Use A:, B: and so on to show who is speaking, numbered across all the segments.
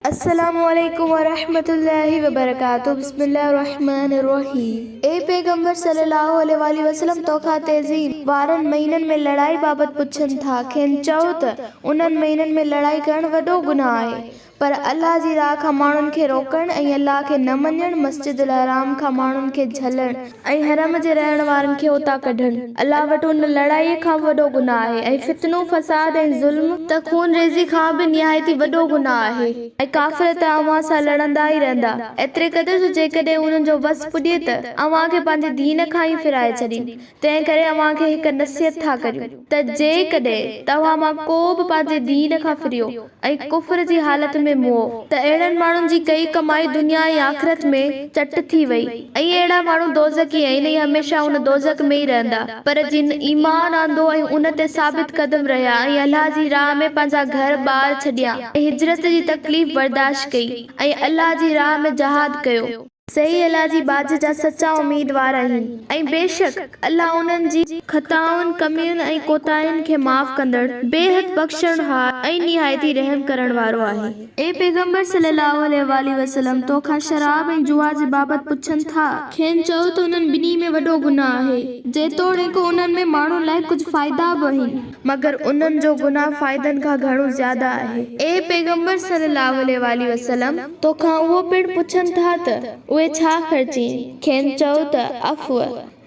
A: السلام عليڪم ورحمة الله وبرڪاته بسم الله الرحمن الرحيم اي پيغمبر صلي الله عليه واٰله وسلم توکان تيزين وارن مهينن ۾ لڙائي بابت پڇن ٿا کين چئو ته انهن مهينن ۾ لڙائي ڪرڻ وڏو گناهه آهي پر الله جي راهه کان ماڻهن کي روڪڻ ۽ الله کي نه مڃڻ، مسجد الحرام کان ماڻهن کي جهلڻ ۽ حرم جي رهڻ وارن کي اتان ڪڍڻ الله وٽ ان لڙائيء کان به وڏو گناهه آهي ۽ فتنو، فساد ۽ ظلم، ته خون ريزي کان به نهايت ئي وڏو گناهه آهي ۽ ڪافر ته اوهان سان لڙندا ئي رهندا ايتري قدر جو جيڪڏهن انهن جو وس پڄي ته اوهان کي پنهنجي دين کان ئي ڦيرائي ڇڏين تنهن ڪري اوهان کي هڪ نصيحت ٿا ڪريون ته جيڪڏهن توهان مان ڪو به پنهنجي دين کان ڦريو ۽ ڪفر جي حالت ۾ مئو ته اهڙن ماڻهن جي ڪئي ڪمائي دنيا ۽ آخرت ۾ چٽ ٿي وئي ۽ اهڙا ماڻهو دوزخي آهن ۽ هميشه ان دوزخ ۾ ئي رهندا پر جن ايمان آندو ۽ ان تي ثابت قدم رهيا ۽ الله جي راهه ۾ پنهنجا گهر ٻار ڇڏيا ۽ هجرت جي تڪليف برداشت ڪئي ۽ الله جي راهه ۾ جهاد ڪيو. سي الله جي ٻاجهه جا سچا اميدوار آهن ۽ بيشڪ الله انهن جي خطائن، ڪمين ۽ ڪوتاهين کي معاف ڪندڙ، بيحد بخشڻهار ۽ نهايت ئي رحم ڪرڻ وارو آهي. اي پيغمبر صلّي اللّٰه عليه واٰله وسلّم! تو کان شراب ۽ جوا جي بابت پڇن ٿا. کين چئو ته انهن ٻنهي ۾ وڏو گناهه آهي، جيتوڻيڪ انهن ۾ ماڻهن لاء ڪجهه فائدا به اهن. مگر انهن جو گناهه فائدن کان گهڻو زياده آهي. اي پيغمبر صلّي اللّٰه عليه واٰله وسلّم! تو کان اهو پڻ پڇن ٿا ته اهي ڇا خرچين؟ کين چئو ته، عفو،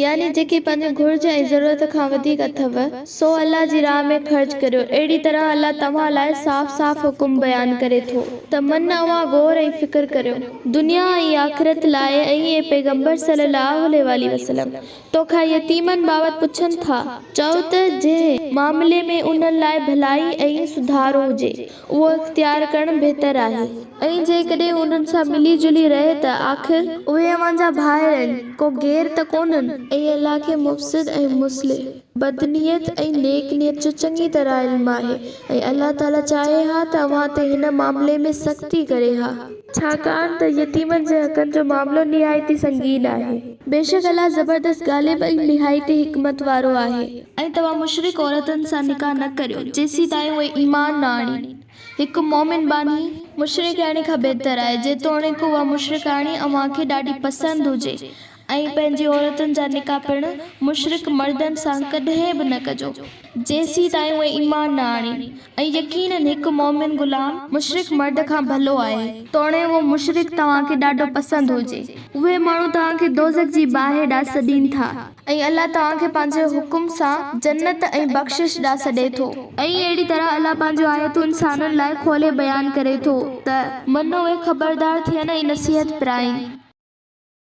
A: يعني جيڪي پنهنجي گهرج ۽ ضرورت کان وڌيڪ اٿئو، سو الله جي راهه ۾ خرچ ڪريو. اهڙي طرح الله توهان لاء صاف صاف حڪم بيان ڪري ٿو ته من اوهان غور ۽ فڪر ڪريو، دنيا ۽ آخرت لاء ۽ اي پيغمبر صلّي اللّٰه عليه واٰله وسلّم! تو کان يتيمن بابت پڇن ٿا. چئو ته جنهن معاملي ۾ انهن لاء ڀلائي ۽ سڌارو هجي، اهو اختيار ڪرڻ بهتر آهي ۽ جيڪڏهن انهن سان ملي جلي رهي ته آخر اهي اوهان جا ڀائر آهن، ڪو غير ته ڪونهن. ۽ الله کي مفسد ۽ مصلح، بدنيت ۽ نيڪ نيت جو چڱي طرح علم آهي ۽ الله تعاليٰ چاهي ها ته اوهان تي هن معاملي ۾ سختي ڪري ها. ڇاڪاڻ ته يتيمن جي حقن جو معاملو نهايت ئي سنگين آهي. بيشڪ الله زبردست غالب ۽ نهايت ئي حڪمت وارو آهي. ۽ توهان مشرڪ عورتن سان نڪاح نه ڪريو جيسيتائين اهي ايمان نه آڻين. هڪ مؤمن ٻانهي. مشرڪياڻي کان بهتر آهي، جيتوڻيڪ اها مشرڪياڻي اوهان کي ڏاڍي پسند هجي ۽ پنهنجي عورتن جا نڪاح پڻ مشرڪ مردن سان ڪڏهن به نه ڪجو، جيسين تائين اهي ايمان نه آڻين، ۽ يقيناً هڪ مؤمن غلام مشرڪ مرد کان ڀلو آهي، توڻي اهو مشرڪ توهان کي ڏاڍو پسند هجي. اهي ماڻهو توهان کي دوزخ جي باهه ڏانهن سڏين ٿا. ۽ الله توهان کي پنهنجي حڪم سان جنت ۽ بخشش ڏانهن سڏي ٿو. ۽ اهڙي طرح الله پنهنجون آيتون انسانن لاء کولي بيان ڪري ٿو ته. منو اهي خبردار ٿين ۽ نصيحت پرائين.